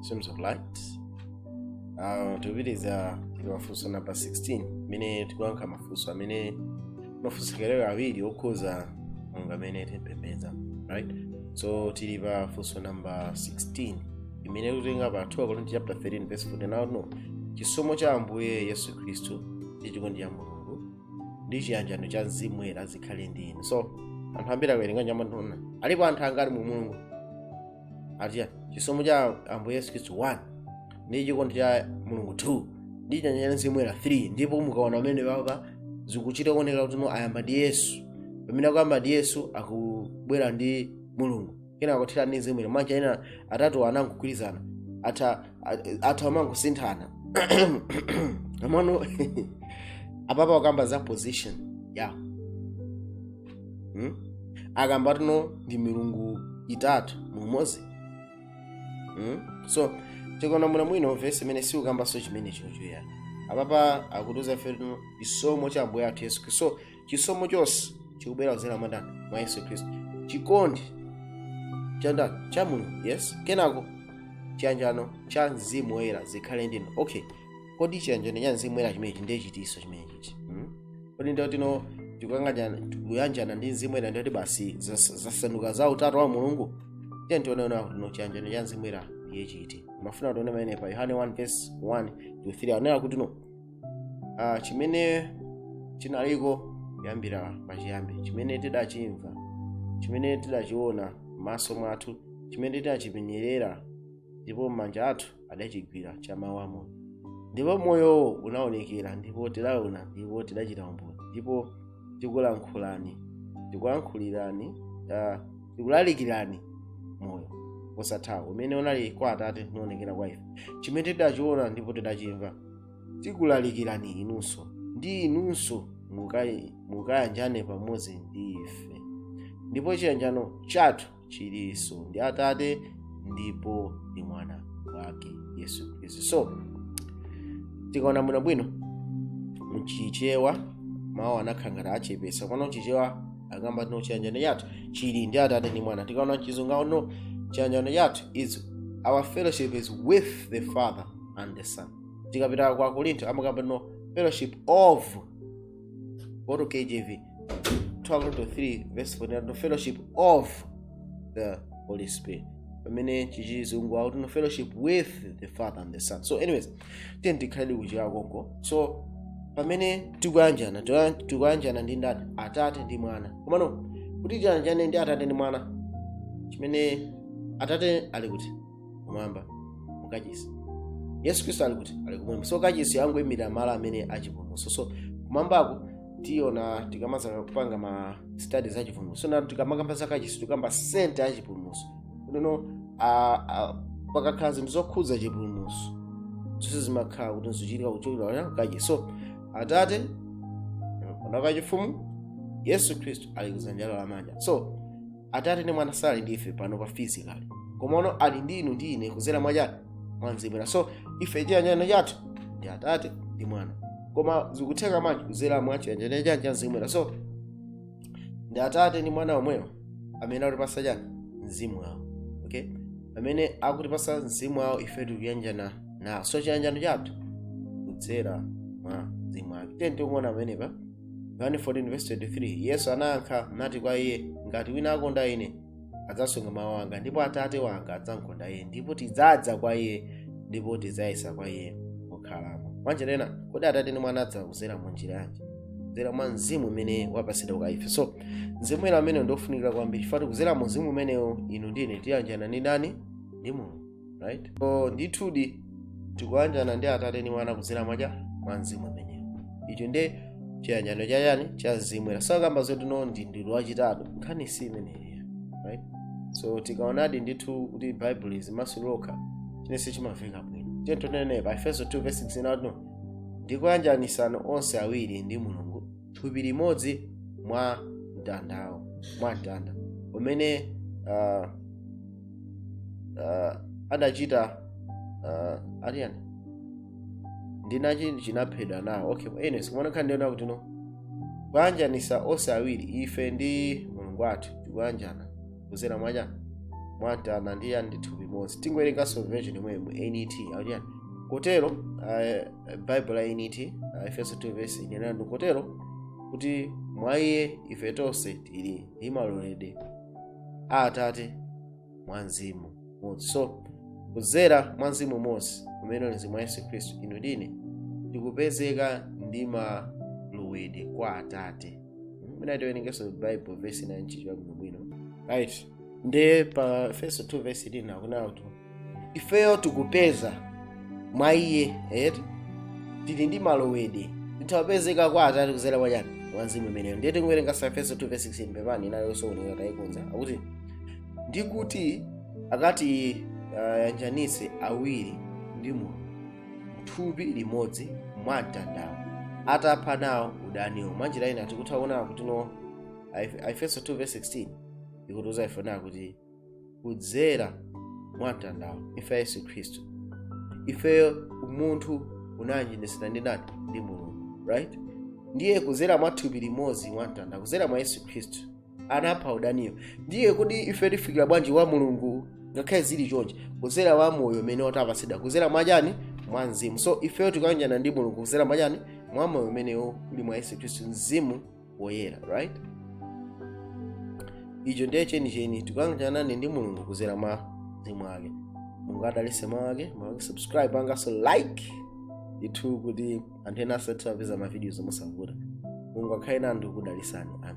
seems of light uh, tikupitiriza ndi mafunso namba 16 imene tikuyankha mafunso amene amafunsa ambiri okhuza mulungu amene timapembedza right so tili pa funso namba 16 imene tikutenga pa 2 akorinto chapter 13 verse 14 now no chisomo cha ambuye yesu khristu ndi chikondi cha mulungu ndi chiyanjano cha mzimu woyera zikhale ndi inu so anthu ambiri akawerenga amati onani alipo anthu angati mu mulungu ati chani chisomo cha ambuye yesu khristu 1 ndi chikondi cha mulungu 2 ndi chiyanjano cha mzimu woyera 3 ndipo mukaona mmene apa zikuchita kuoneka kutino ayamba ndi yesu pamene akuyamba ndi yesu akubwera ndi mulungu kenako akuthera ndi mzimu woyera mwina ena atatu anangogwirizana atha amangosinthana komano apapa akamba za position yawo hmm? akamba kutino ndi milungu itatu mumodzi hmm? so tikaona bwino bwino vesi imene sikukambanso chimenechocho ayi apapa akutiuza ife kutino chisomo cha ambuye athu yesu khristu so chisomo chonse chikubwera kudzera mwa ndani mwa yesu khristu chikondi cha ndani cha mulungu yes kenako chiyanjano cha mzimu woyera zikhale ndinu okay kodi chiyanjano cha mzimu woyera chimenechi ndiye chiti chimenechi hmm? kodi ndiye kutino tikukamba tikuyanjana ndi mzimu woyera ndiye kuti basi zas- zasanduka za utatu wa mulungu tiyeni tione kutino chiyanjano cha mzimu woyera ndiye chiti ndimafuna tione pamene pa yohane 1 verse 1 to 3 akunena kutino ah, chimene chinaliko kuyambira pachiyambi chimene tidachimva chimene tidachiona m'maso mwathu chimene tidachipenyerera ndipo manja athu adachigwira cha mawu a moyo ndipo moyowo unaonekera ndipo tidaona ndipo tidachita umboni ndipo tikulankhulani tikulankhulirani ah, tikulalikirani moyo osathawo umene unali kwa atate unaonekera kwa ife chimene tidachiona ndipo tidachimva tikulalikirani inunso kuti inunso mukayi- mukayanjane pamodzi ndi ife ndipo chiyanjano chathu chilinso ndi atate ndipo ndi mwana wake yesu khristu so tikaona bwinobwino mchichewa mawu anakhala ngati achepesa komano mchichewa akamba kutino chiyanjano chathu chili ndi atate ndi mwana tikaona mchizungu akutino chiyanjano chathu is our fellowship is with the father and the son tikapita kwa akorinto amakamba kutino fellowship of Go to KJV. 13 verse 14 no fellowship of the Holy Spirit. pamene chizungu akutino fellowship with the father and the son so anyways tiyeni tikhale kuchichewa konko so pamene tikuyanjana tikuya- tikuyanjana ndi ndani atate ndi mwana komano kuti tiyanjane ndi atate ndi mwana chifukwa atate ali kuti kumwamba mu kachisi yesu khristu ali kuti ali kumwamba so kachisi angoyimira malo amene achipulumutso so kumwambako tiona tikamadzapanga ma studies a chipulumutso na tikamakamba za kachisi tikukamba senta ya chipulumutso kunono pakakhala zinthu zokhudza chipulumutso zonse zimakhala kuti zochitika kuchokera kachisi so atate mpando wachifumu yesu khristu ali kudzanja lamanja so atate ndi mwana sali ndi ife pano pa physically koma ali ndi inu ndi ine kuzera mwa chani mwa mzimu woyera so ife chiyanjano chathu ndi atate ndi mwana koma zikutheka bwanji kuzera mwa chiyanjano chani cha mzimu woyera so ndi atate ndi mwana omwewo amene akutipasa chani mzimu wawo okay amene akutipasa mzimu wawo ife tikuyanjana nawo so chiyanjano chathu kudzera mwa mzimu wake tiyeni tione pamenepa yohane 14:23 yesu anayankha nati kwa iye ngati wina akonda ine adzasunga mawu anga ndipo atate wanga adzamkonda iye ndipo tidzadza kwa iye ndipo tidzayesa kwa iye mokhalamo mwanjira ina kodi atate ndi mwana adzakuzera mu njira yanji kudzera mwa mzimu umene wapatsidwa kwa ife so mzimu woyera umenewo ndiofunikira kwambiri chifukwa kuzera mu mzimu umenewo inu ndi ine tiyanjana ndi ndani ndi mulungu right so ndithudi tikuyanjana ndi atate ndi mwana kudzera mwa chani mwa mzimu ameneyo icho ndi chiyanjano cha chani cha mzimu woyera sakukamba zoti no ndi mulungu wachitatu nkhani si imeneyo right so tikaonadi ndithu kuti bible limazimasulira lokha chilichonse chimaveka bwino tiyeni tione pa efeso 2 verse 16 out no ndikuyanjanisana onse awiri ndi mulungu thupi limodzi mwa mtandawo mwa mtanda umene uh, uh, adachita uh, aliyani ndinachi chinaphedwa nawo okay anyway sikuona nkhani ndiyona kuti no kuyanjanisa onse awiri ife ndi mulungu wathu tikuyanjana kuzera mwa chani mwa mtanda ndi yani m'thupi limodzi tingowerenganso version yomweyo mu nat aliyani kotero uh, bible la nat uh, efeso 2 verse ikunena kuti kotero kuti mwa iye ife tonse tili ndi malowedwe kwa atate mwa mzimu umodzi so kudzera mwa mzimu umodzi umene uli mzimu wa yesu khristu inu ndi ine tikupezeka ndi malowedwe kwa atate mwina tiwerengenso bible version ya chichewa bwinobwino right nde pa efeso 2 vesi 9 akunena kuti ifeyo tikupeza mwa iye eti tili ndi malowedwe titha kupezeka kwa atate kuzera mwa chani mwa mzimu umenewo ndiye tiwerengenso aefeso 2 verse 16 pepani inali yosaoneka tayikonza akuti ndikuti akati ayanjanitse awiri ndi mulungu mthupi limodzi mwa mtandawo atapha nawo udaniwo mwanjira ina tikutha kuona kuti no Aef- aefeso 2 verse 16 ikutiuza ife nayo kuti kudzera mwa mtandawo imfa ya yesu khristu ifeyo umunthu unayanjanitsidwa ndi ndani ndi mulungu right ndiye kudzera mwa thupi limodzi mwa mtanda kudzera mwa yesu khristu anapha udaniyo ndiye kuti ife tifikira bwanji kwa mulungu ngakhale zili chonje kudzera mwa moyo umene tapatsidwa kudzera mwa chani mwa mzimu so ifeyo tikayanjana ndi mulungu kudzera mwa chani mwa moyo umenewo uli mwa yesu khristu mzimu woyera right icho ndiye chenicheni tikuyanjana ndi mulungu kuzera mwa mzimu wake mulungu adalise mawu ake mawu ake subscribe panganiso like ndithu kuti anthu ena azitha kupeza mavidiyo mosavuta mulungu akhale nanu ndikudalisani amen